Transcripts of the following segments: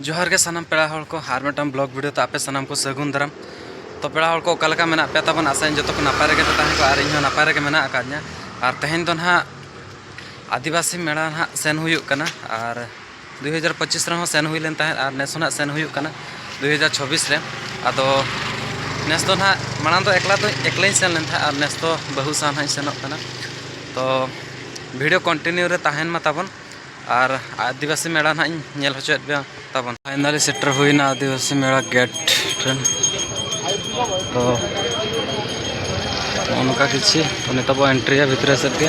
ᱡᱚᱦᱟᱨ ᱜᱮ ᱥᱟᱱᱟᱢ ᱯᱮᱲᱟ ᱦᱚᱲ ᱠᱚ ᱟᱨ ᱢᱤᱫᱴᱟᱝ ᱵᱞᱚᱜ ᱵᱷᱤᱰᱤᱭᱳ ᱛᱮ ᱟᱯᱮ ᱥᱟᱱᱟᱢ ᱠᱚ ᱥᱟᱹᱜᱩᱱ ᱫᱟᱨᱟᱢ ᱛᱚ ᱯᱮᱲᱟ ᱦᱚᱲ ᱠᱚ ᱚᱠᱟ ᱞᱮᱠᱟ ᱢᱮᱱᱟᱜ ᱯᱮ ᱛᱟᱵᱚᱱ ᱟᱥᱟᱧ ᱡᱚᱛᱚ ᱠᱚ ᱱᱟᱯᱟᱭ ᱨᱮᱜᱮ ᱯᱮ ᱛᱟᱦᱮᱸ ᱠᱚᱜᱼᱟ ᱟᱨ ᱤᱧ ᱦᱚᱸ ᱱᱟᱯᱟᱭ ᱨᱮᱜᱮ ᱢᱮᱱᱟᱜ ᱟᱠᱟᱫᱤᱧᱟ ᱟᱨ ᱛᱮᱦᱮᱧ ᱫᱚ ᱱᱟᱦᱟᱜ ᱟᱹᱫᱤᱵᱟᱹᱥᱤ ᱢᱮᱲᱟ ᱱᱟᱦᱟᱜ ᱥᱮᱱ ᱦᱩᱭᱩᱜ ᱠᱟᱱᱟ ᱟᱨ 2025 ᱨᱮᱦᱚᱸ ᱥᱮᱱ ᱦᱩᱭ ᱞᱮᱱ ᱛᱟᱦᱮᱸᱫ ᱟᱨ ᱱᱮᱥ ᱦᱚᱸ ᱱᱟᱦᱟᱜ ᱥᱮᱱ ᱦᱩᱭᱩᱜ ᱠᱟᱱᱟ 2026 ᱨᱮ ᱟᱫᱚ ᱱᱮᱥ ᱫᱚ ᱱᱟᱦᱟᱜ ᱢᱟᱲᱟᱝ ᱫᱚ ᱮᱠᱞᱟ ᱫᱚ ᱮᱠᱞᱟᱧ ᱥᱮᱱ ᱞᱮᱱ ᱛᱟᱦᱮᱸᱫ ᱟᱨ ᱱᱮᱥ ᱫᱚ ᱵᱟᱹᱦᱩ ᱥᱟᱶ ᱱᱟᱦᱟᱜ ᱤᱧ ᱥᱮᱱᱚᱜ ᱠᱟᱱᱟ ᱛᱚ ᱵᱷᱤᱰᱤᱭᱳ ᱠᱚᱱᱴᱤᱱᱤᱭᱩ ᱨᱮ ᱛᱟᱦᱮᱱ ᱢᱟ ᱛᱟᱵᱚᱱ ᱟᱨ ᱟᱹᱫᱤᱵᱟᱹᱥᱤ ᱢᱮᱞᱟ ᱱᱟᱦᱟᱜ ᱤᱧ ᱧᱮᱞ ᱦᱚᱪᱚᱭᱮᱫ ᱯᱮᱭᱟ ᱛᱟᱵᱚᱱ ᱯᱷᱟᱭᱱᱟᱞᱤ ᱥᱮᱴᱮᱨ ᱦᱩᱭᱱᱟ ᱟᱹᱫᱤᱵᱟᱹᱥᱤ ᱢᱮᱞᱟ ᱜᱮᱴ ᱴᱷᱮᱱ ᱛᱚ ᱚᱱᱠᱟ ᱠᱤᱪᱷᱩ ᱱᱤᱛᱚᱜ ᱵᱚ ᱮᱱᱴᱨᱤᱭᱟ ᱵᱷᱤᱛᱨᱤ ᱥᱮᱫ ᱜᱮ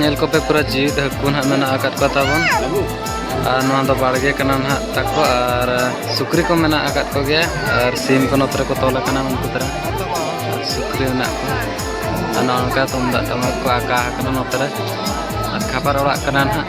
ᱧᱮᱞ ᱠᱚᱯᱮ ᱯᱩᱨᱟᱹ ᱡᱤᱣᱤᱫ ᱦᱟᱹᱠᱩ ᱱᱟᱦᱟᱜ ᱢᱮᱱᱟᱜ ᱟᱠᱟᱫ ᱠᱚ ᱛᱟᱵᱚᱱ ᱟᱨ ᱱᱚᱣᱟ ᱫᱚ ᱵᱟᱲᱜᱮ ᱠᱟᱱᱟ ᱱᱟᱦᱟᱜ ᱛᱟᱠᱚ ᱟᱨ ᱥᱩᱠᱨᱤ ᱠᱚ ᱢᱮᱱᱟᱜ ᱟᱠᱟᱫ ᱠᱚᱜᱮᱭᱟ ᱟᱨ ᱥᱤᱢ ᱠᱚ ᱱᱚᱛᱮ ᱨᱮᱠᱚ ᱛᱚᱞ ᱟᱠᱟᱱᱟ ᱩᱱᱠᱩ ᱫᱷᱟᱨᱟ ᱟᱨ ᱥᱩᱠᱨᱤ ᱢᱮᱱᱟᱜ ᱠᱚᱣᱟ ᱟᱨ ᱱᱚᱜᱼᱚ ᱱᱚᱝᱠᱟ ᱛᱩᱢᱫᱟᱜ ᱴᱟᱢᱟᱠ ᱠᱚ ᱟᱠᱟ ᱟᱠᱟᱱᱟ ᱱᱚᱛᱮ ᱨᱮ ᱟᱨ ᱠᱷᱟᱯᱟᱨ ᱚᱲᱟᱜ ᱠᱟᱱᱟ ᱱᱟᱦᱟᱜ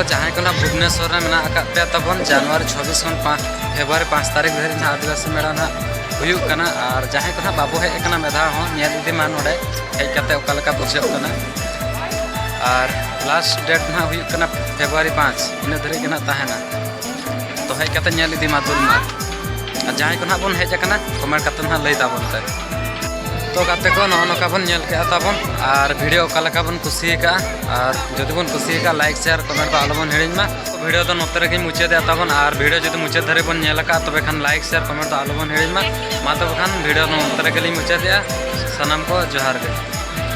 ᱠᱚ ᱡᱟᱦᱟᱸᱭ ᱠᱚ ᱱᱟᱦᱟᱜ ᱵᱷᱩᱵᱽᱱᱮᱥᱚᱨ ᱨᱮ ᱢᱮᱱᱟᱜ ᱟᱠᱟᱫ ᱯᱮᱭᱟ ᱛᱟᱵᱚᱱ ᱡᱟᱱᱩᱣᱟᱨᱤ ᱪᱷᱚᱵᱵᱤᱥ ᱠᱷᱚᱱ ᱯᱟᱸᱪ ᱯᱷᱮᱵᱽᱨᱩᱣᱟᱨᱤ ᱯᱟᱸᱪ ᱛᱟᱹᱨᱤᱠᱷ ᱫᱷᱟᱹᱨᱤᱡ ᱱᱟᱦᱟᱜ ᱟᱹᱫᱤᱵᱟᱹᱥᱤ ᱢᱮᱞᱟ ᱱᱟᱦᱟᱜ ᱦᱩᱭᱩᱜ ᱠᱟᱱᱟ ᱟᱨ ᱡᱟᱦᱟᱸᱭ ᱠᱚ ᱱᱟᱦᱟᱜ ᱵᱟᱵᱚ ᱦᱮᱡ ᱟᱠᱟᱱᱟ ᱢᱤᱫ ᱫᱷᱟᱣ ᱦᱚᱸ ᱧᱮᱞ ᱤᱫᱤ ᱢᱟ ᱱᱚᱰᱮ ᱦᱮᱡ ᱠᱟᱛᱮ ᱚᱠᱟ ᱞᱮᱠᱟ ᱵᱩᱡᱷᱟᱹᱜ ᱠᱟᱱᱟ ᱟᱨ ᱞᱟᱥᱴ ᱰᱮᱴ ᱱᱟᱦᱟᱜ ᱦᱩᱭᱩᱜ ᱠᱟᱱᱟ ᱯᱷᱮᱵᱽᱨᱩᱣᱟᱨᱤ ᱯᱟᱸᱪ ᱤᱱᱟᱹ ᱫᱷᱟᱹᱨᱤᱡ ᱜᱮ ᱱᱟᱦᱟᱜ ᱛᱟᱦᱮᱱᱟ ᱛᱚ ᱦᱮᱡ ᱠᱟᱛᱮ ᱧᱮᱞ ᱤᱫᱤ ᱢᱟ ᱫᱩᱞ ᱢᱟ ᱟᱨ ᱡᱟᱦᱟᱸᱭ ᱠᱚ ᱱᱟᱦᱟᱜ ᱵᱚᱱ ᱦᱮᱡ ᱟᱠᱟᱱᱟ ᱠᱚᱢᱮᱱᱴ ᱠᱟᱛᱮ ᱱᱟᱦᱟᱜ ᱞᱟᱹᱭ ᱛᱟᱵᱚᱱ ᱯᱮ ᱛᱚ ᱜᱟᱛᱮ ᱠᱚ ᱱᱚᱜᱼᱚ ᱱᱚᱝᱠᱟ ᱵᱚᱱ ᱧᱮᱞ ᱠᱮᱜᱼᱟ ᱛᱟᱵᱚᱱ ᱟᱨ ᱵᱷᱤᱰᱤᱭᱳ ᱚᱠᱟ ᱞᱮᱠᱟ ᱵᱚᱱ ᱠᱩᱥᱤ ᱟᱠᱟᱜᱼᱟ ᱟᱨ ᱡᱩᱫᱤ ᱵᱚᱱ ᱠᱩᱥᱤ ᱟᱠᱟᱜᱼᱟ ᱞᱟᱭᱤᱠ ᱥᱮᱭᱟᱨ ᱠᱚᱢᱮᱱᱴ ᱫᱚ ᱟᱞᱚ ᱵᱚᱱ ᱦᱤᱲᱤᱧ ᱢᱟ ᱵᱷᱤᱰᱤᱭᱳ ᱫᱚ ᱱᱚᱛᱮ ᱨᱮᱜᱮ ᱢᱩᱪᱟᱹᱫᱮᱜᱼᱟ ᱛᱟᱵᱚᱱ ᱟᱨ ᱵᱷᱤᱰᱤᱭᱳ ᱡᱩᱫᱤ ᱢᱩᱪᱟᱹᱫ ᱫᱷᱟᱹᱨᱤᱡ ᱵᱚᱱ ᱧᱮᱞ ᱟᱠᱟᱜᱼᱟ ᱛᱚᱵᱮ ᱠᱷᱟᱱ ᱞᱟᱭᱤᱠ ᱥᱮᱭᱟᱨ ᱠᱚᱢᱮᱱᱴ ᱫᱚ ᱟᱞᱚ ᱵᱚᱱ ᱦᱤᱲᱤᱧ ᱢᱟ ᱢᱟ ᱛᱚᱵᱮ ᱠᱷᱟᱱ ᱵᱷᱤᱰᱤᱭᱳ ᱱᱚᱛᱮ ᱨᱮᱜᱮ ᱞᱤᱧ ᱢᱩᱪᱟᱹᱫᱮᱜᱼᱟ ᱥᱟᱱᱟᱢ ᱠᱚ ᱡᱚᱦᱟᱨ ᱜᱮ